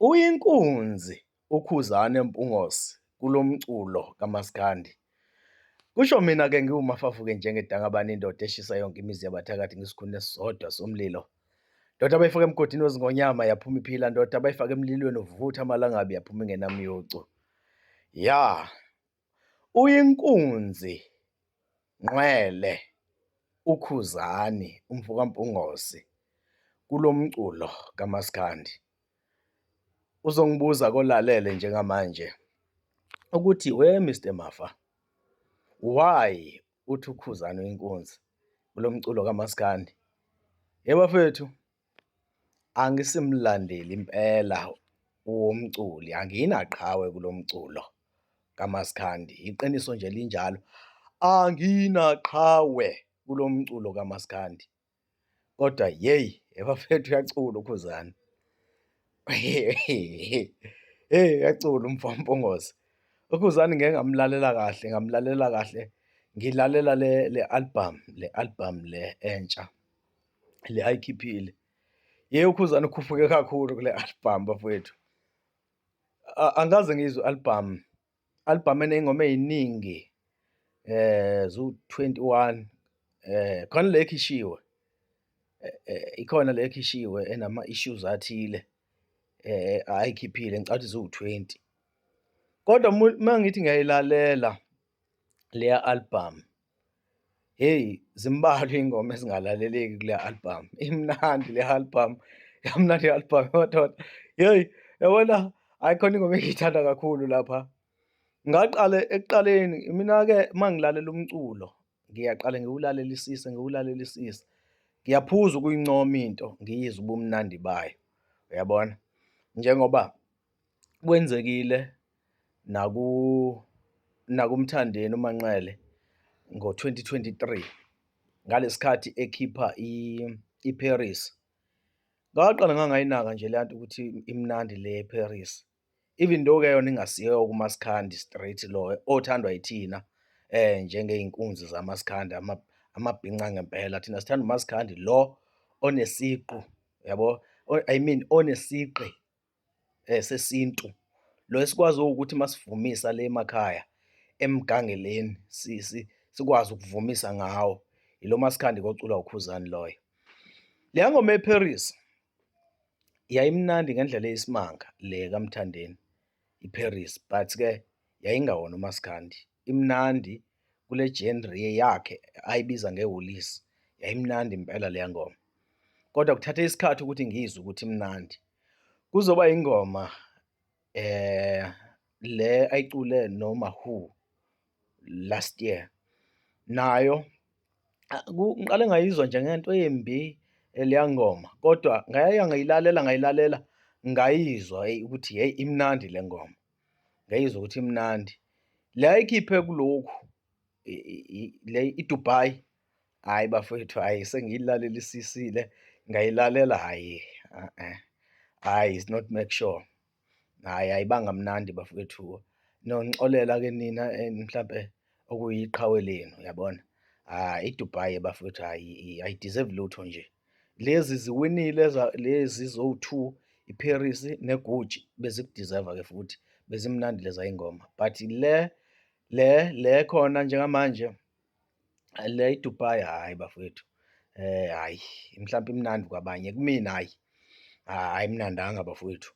Uyinkunzi uKhuzani Mpungose kulo mculo kamaskandi. Kusho mina-ke ngiwumafafuke njengedangabane indoda eshisa yonke imizi yabathakathi ngesikhuni esisodwa somlilo. Ndoda abayifaka emgodini wezingonyama yaphuma iphila, ndoda abayifaka emlilweni uvutha amalangabi yaphuma ingenamyucu. Ya! Uyinkunzi ngqwele uKhuzani umfo kaMpungose kulo mculo kamaskandi. Uzongibuza kolalele njengamanje ukuthi we Mister Mafa why uthi uKhuzani uyinkunzi kulo mculo kamaskandi? Yebo bafethu. Angisimlandeli impela womculi, anginaqhawe kulo mculo kamaskandi, iqiniso nje linjalo, anginaqhawe kulo mculo kamaskandi. Kodwa yeyi bafethu uyacula uKhuzani, hheyi uyacula umfo kaMpungose. UKhuzani ngike ngamlalela kahle, ngamlalela kahle, ngilalela le le-album, le-album le entsha. le ayikhiphile yeye ukhuzana ukhuphuke kakhulu kule album bafowethu angikaze ngizwe album album eney'ngoma ey'ningi eh zu-21 eh khona le ekhishiwe eh, eh, ikhona le ekhishiwe enama-issues athile eh ayikhiphile ngicathi ziwu-20 kodwa uma ngithi ngiyayilalela leya album Heyi, zimbalwa iy'ngoma ezingalaleleki kule album. Imnandi le album, yamnandi i-album madoda. Heyi, yabona hhayi khona ingoma engiyithanda kakhulu lapha. Ngaqale ekuqaleni mina-ke uma ngilalela umculo, ngiyaqale ngiwulalelisise, ngiwulalelisise. Ngiyaphuza ukuyincoma into, ngiyizwe ubumnandi bayo. Uyabona? Njengoba kwenzekile nakuMthandeni uManqele ngo-2023 ngalesikhathi ekhipha iParis. Ngaqala ngangayinaka nje le nto ukuthi imnandi le eParis. Even though ke yona ingasiyo kuMaskandi straight lo othandwa yithina eh njengeyinkunzi zamaskandi amabhinca ngempela thina sithanda uMaskandi lo onesiqu yabo I mean onesiqi sesintu lo esikwaziyo ukuthi masivumisa le emakhaya emgangeleni sikwazi ukuvumisa ngawo, ilo maskandi koculwa uKhuzani loyo. Le yangoma eParis yayimnandi ngendlela eyisimanga le kaMthandeni iParis but-ke yayingawona umaskandi, imnandi kule genre yakhe ayibiza ngewulisi yayimnandi impela leya ngoma, kodwa kuthathe isikhathi ukuthi ngiyizwe ukuthi imnandi. Kuzoba ingoma eh le ayicule noma who last year nayo ngiqale ngayizwa nje ngento embi leya ngoma kodwa ngaya ngayilalela ngayilalela ngayizwa ukuthi hey imnandi le ngoma ngayizwa ukuthi imnandi le ayikhiphe kulokhu le iDubai Hayi bafowethu, hayi sengiyilalelisisile ngayilalela hayi uh-uh. hayi is not make sure hayi ayibanga mnandi bafowethu nonixolela ke nina eh, mhlampe okuyiqhawe lenu yabona ah iDubai bafowethu hayi i deserve lutho nje lezi ziwinile lezi zowu-two iParis neGucci bezikudeserve ke futhi bezimnandi leza ingoma but le le le khona njengamanje Le iDubai hhayi bafwethu hhayi mhlawumpe imnandi kwabanye kumina hhayi ayimnandanga bafwethu.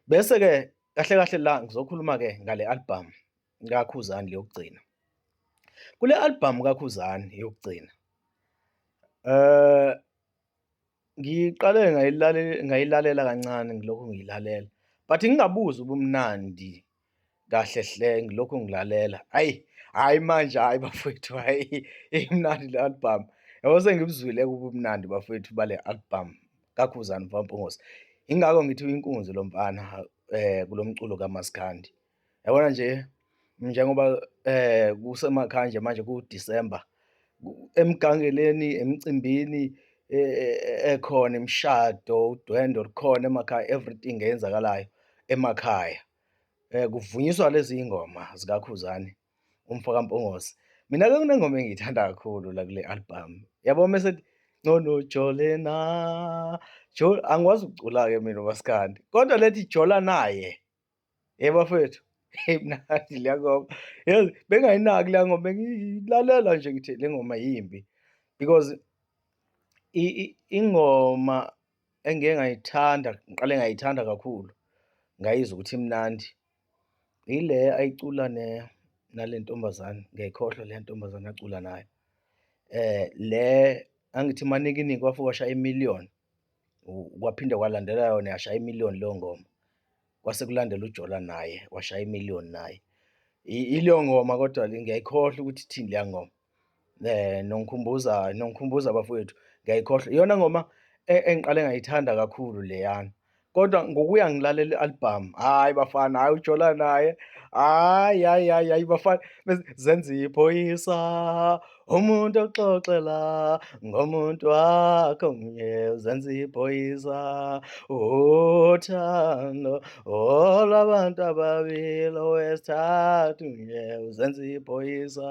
Bese-ke kahle kahle la ngizokhuluma-ke ngale albhamu kaKhuzani yokugcina. Kule albhamu kaKhuzani yokugcina Ngiqale ngayilalela kancane ngilokhu ngiyilalela but ngingabuzi ubumnandi kahle hle ngilokhu ngilalela ayi hayi manje hayi bafowethu hayi imnandi le album yabo sengibuzwile kubumnandi bafowethu bale album kakhuzani mfampungosi ingakho ngithi uyinkunzi lo mfana um kulo mculo kamaskandi Yabona nje njengoba eh kusemakhaya nje manje kuDecember emgangeleni emcimbini e, e, e, ekhona imishado udwendo likhona emakhaya everything eyenzakalayo emakhaya eh kuvunyiswa lezi ingoma zikaKhuzani umfaka Mpongosi mina ke kunengoma engiyithanda kakhulu la kule album yabo mase ngcono jole na jol angikwazi ukucula ke mina umaskandi kodwa lethi jola naye Yebo bafethu. Hey mnandi le ngoma. Yazi bengayinaki le ngoma bengilalela nje ngithi le ngoma yimbi because ingoma engike ngayithanda ngiqale ngayithanda kakhulu ngayizwa ukuthi imnandi yile ayicula ne nale ntombazane ngiyayikhohlwa le ntombazane acula nayo um le angithi manikiningi wafike washaya imiliyoni Kwaphinde kwalandela yona yashaya imiliyoni leyo ngoma. Kwase kulandela uJola naye washaya imiliyoni naye. Ileyo ngoma kodwa le ngiyayikhohlwa ukuthi ithini leya ngoma. Nongikhumbuza nongikhumbuza bafowethu ngiyayikhohlwa. Iyona ngoma engiqale ngayithanda kakhulu leyana. kodwa ngokuya ngilalela i-album hayi bafana hayi ujola naye hayi hayi hayi hayi bafana zenza iphoyisa umuntu oxoxela ngomuntu wakho mnye zenza iphoyisa uthando olwabantu ababili owesithathu mnye uzenza iphoyisa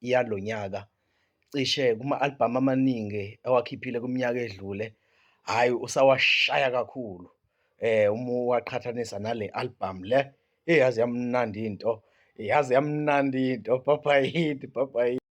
yalo nyaka cishe kuma-albhamu amaningi ewakhiphile kwiminyaka edlule hhayi usawashaya kakhulu eh uma uwaqhathanisa nale album le eyazi yamnandi into yazi yamnandi into papa yini papa yini